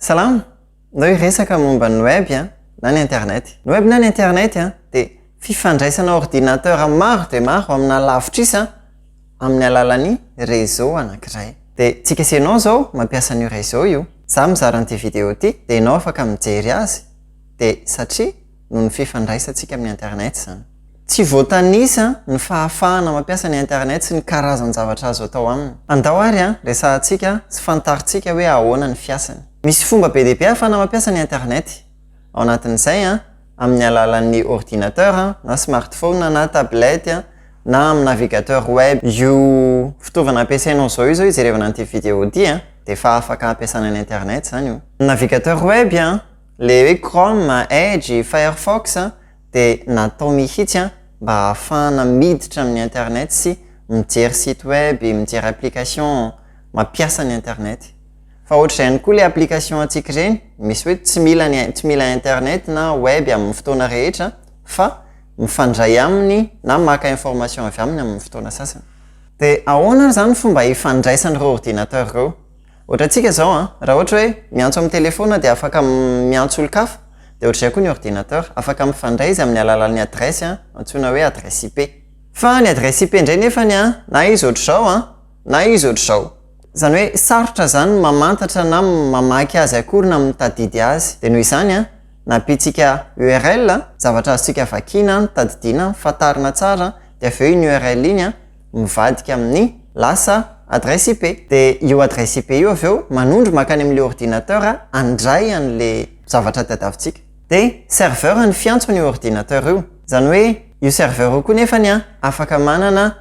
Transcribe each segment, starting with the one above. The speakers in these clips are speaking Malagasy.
Salama! Ndao hiresaka momba ny web na ny internet. Ny web na ny internet dia fifandraisana ordinateur maro dia maro amina lavitrisa amin'ny alalan'ny réseau anankiray. Dia tsika sy ianao izao mampiasa an'io réseau io. Izaho mizara an'ity vidéo ity dia ianao afaka mijery azy dia satria noho ny fifandraisantsika amin'ny Internet izany. Tsy voatanisa ny fahafahana mampiasa ny Internet sy ny karazan-javatra azo atao aminy. Andao ary resahantsika sy fantarintsika hoe ahoana ny fiasany. Misy fomba be dia be ahafahana mampiasa ny Internet. Ao anatin'izay, amin'ny alalan'ny ordinateur na smartphone na tablette na amin'ny navigateur web. Io fitaovana ampiasainao izao izao hijerevana an'ity vidéo ity dia efa afaka hampiasana ny Internet izany io. Ny navigateur web. Le hoe Chrome, Edge, Firefox dia natao mihitsy mba hahafahana miditra amin'ny internet sy mijery site web, mijery application, mampiasa ny internet. Fa ohatr'izay ihany koa le application antsika ireny, misy hoe tsy mila ny tsy mila internet na web amin'ny fotoana rehetra fa mifandray aminy na maka information avy aminy amin'ny fotoana sasany. Dia ahoana ary izany ny fomba ifandraisan'ireo ordinateur ireo? Ohatrantsika izao an, raha ohatra hoe miantso amin'ny telefaona dia afaka miantso olon-kafa, dia ohatr'izay koa ny ordinateur, afaka mifandray izy amin'ny alalan'ny adiresy an, antsoina hoe adiresy IP. Fa ny adiresy IP indray nefany an, na izy ohatr'izao an, na izy ohatr'izao. Izany hoe sarotra izany ny mamantatra na mamaky azy akory na mitadidy azy. Dia noho izany an, nampiantsika url, zavatra azontsika vakiana an, tadidiana an, fantarina tsara an, dia avy eo iny url iny an, mivadika amin'ny lasa adresse IP. Dia io adresse IP io avy eo manondro mankany amin'ilay ordinateur handray an'ilay zavatra tadiavintsika. Dia serveur no fiantso an'io ordinateur io. Izany hoe io serveur io koa nefany afaka manana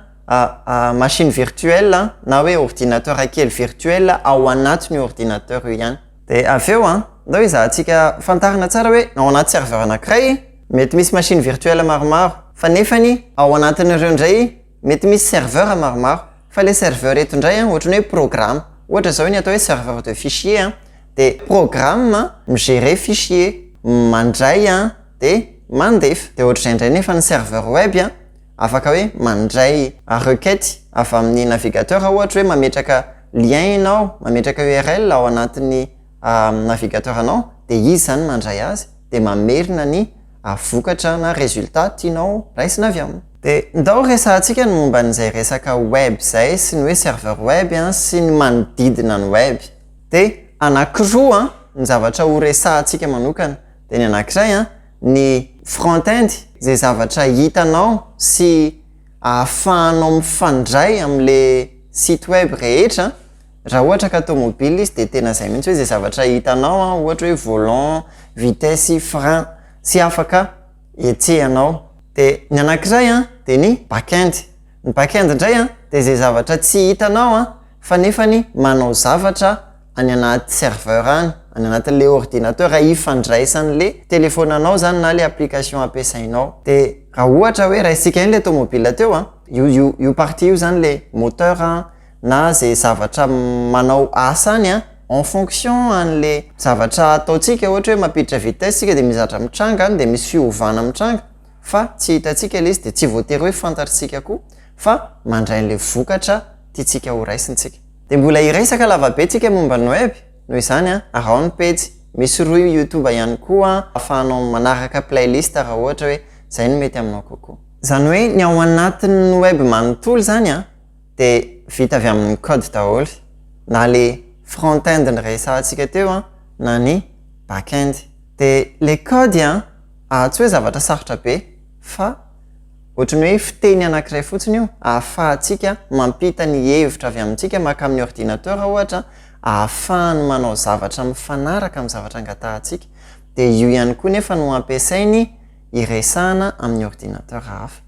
machine virtuelle na hoe ordinateur kely virtuelle ao anatin'io ordinateur io ihany. Dia avy eo an, ndao ezahantsika fantarina tsara hoe ao anaty serveur anankiray mety misy machine virtuelle maromaro, fa nefany ao anatin'ireo indray mety misy serveur maromaro, fa ilay serveur eto indray an ohatran'ny hoe programa, ohatra izao ny atao hoe serveur de fichier an, dia programa mi-gerer fichier, mandray an dia mandefa, dia ohatr'izay indray nefa ny serveur web an, afaka hoe mandray requête avy amin'ny navigateur ohatra hoe mametraka lien ianao, mametraka url ao anatin'ny navigateur anao dia izy izany mandray azy dia mamerina ny vokatra na résultat tianao raisina avy aminy. Dia ndao resahantsika ny momba an'izay resaka web izay sy ny hoe serveur web sy ny manodidina ny web. Dia anankiroa ny zavatra horesahantsika manokana. Dia ny anankiray an, ny front-end izay zavatra hitanao sy ahafahanao mifandray amin'ilay site web rehetra raha ohatra ka tomobile izy dia tena izay mihintsy hoe izay zavatra hitanao an ohatra hoe volant, vitesse sy frein sy afaka etsehanao dia ny anakiray an dia ny back-end ny back-end indray an dia izay zavatra tsy hitanao an fa nefany manao zavatra any anaty serveur any, any anatin'ilay ordinateur ifandraisan'ilay telefaonanao izany na ilay application ampiasainao. Dia raha ohatra hoe raisika ihany ilay tomobila teo an, io io io partie io izany ilay moteur an, na izay zavatra manao asa any an, en fonction an'ilay zavatra ataontsika, ohatra hoe mampiditra vitesse isika dia misy zavatra mitranga any, dia misy fiovana mitranga fa tsy hitantsika ilay izy dia tsy voatery hoe fantatr'isika koa fa mandray an'ilay vokatra tiantsika horaisintsika. Dia mbola hiresaka lavabe tsika momba ny web, noho izany an, araho ny pejy, misy rohy youtube ihany koa afahanao manaraka playlist raha ohatra hoe izay no mety aminao kokoa. Izany hoe ny ao anatin'ny web manontolo izany an, dia vita avy amin'ny code daholo, na ilay front-end niresahantsika teo an, na ny back-end. Dia ilay code an, atsy hoe zavatra sarotra be, fa ohatry ny hoe fiteny anankiray fotsiny io ahafahantsika mampita ny hevitra avy amintsika mankamin'ny ordinateur ohatra ahafahany manao zavatra mifanaraka amin'ny zavatra angatahantsika dia io ihany koa nefa no ampiasainy hiresahana amin'ny ordinateur hafa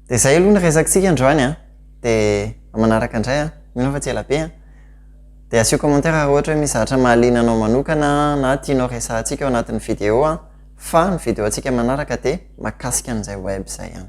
dia izay aloha ny resakintsika androany an! dia manaraka indray an! mino aho fa tsy ela be an! dia asio commentaire raha ohatra hoe misy zavatra mahaliana anao manokana na tianao resahantsika ao anatin'ny video an! Fa ny video antsika manaraka dia makasika an'izay web izay ihany.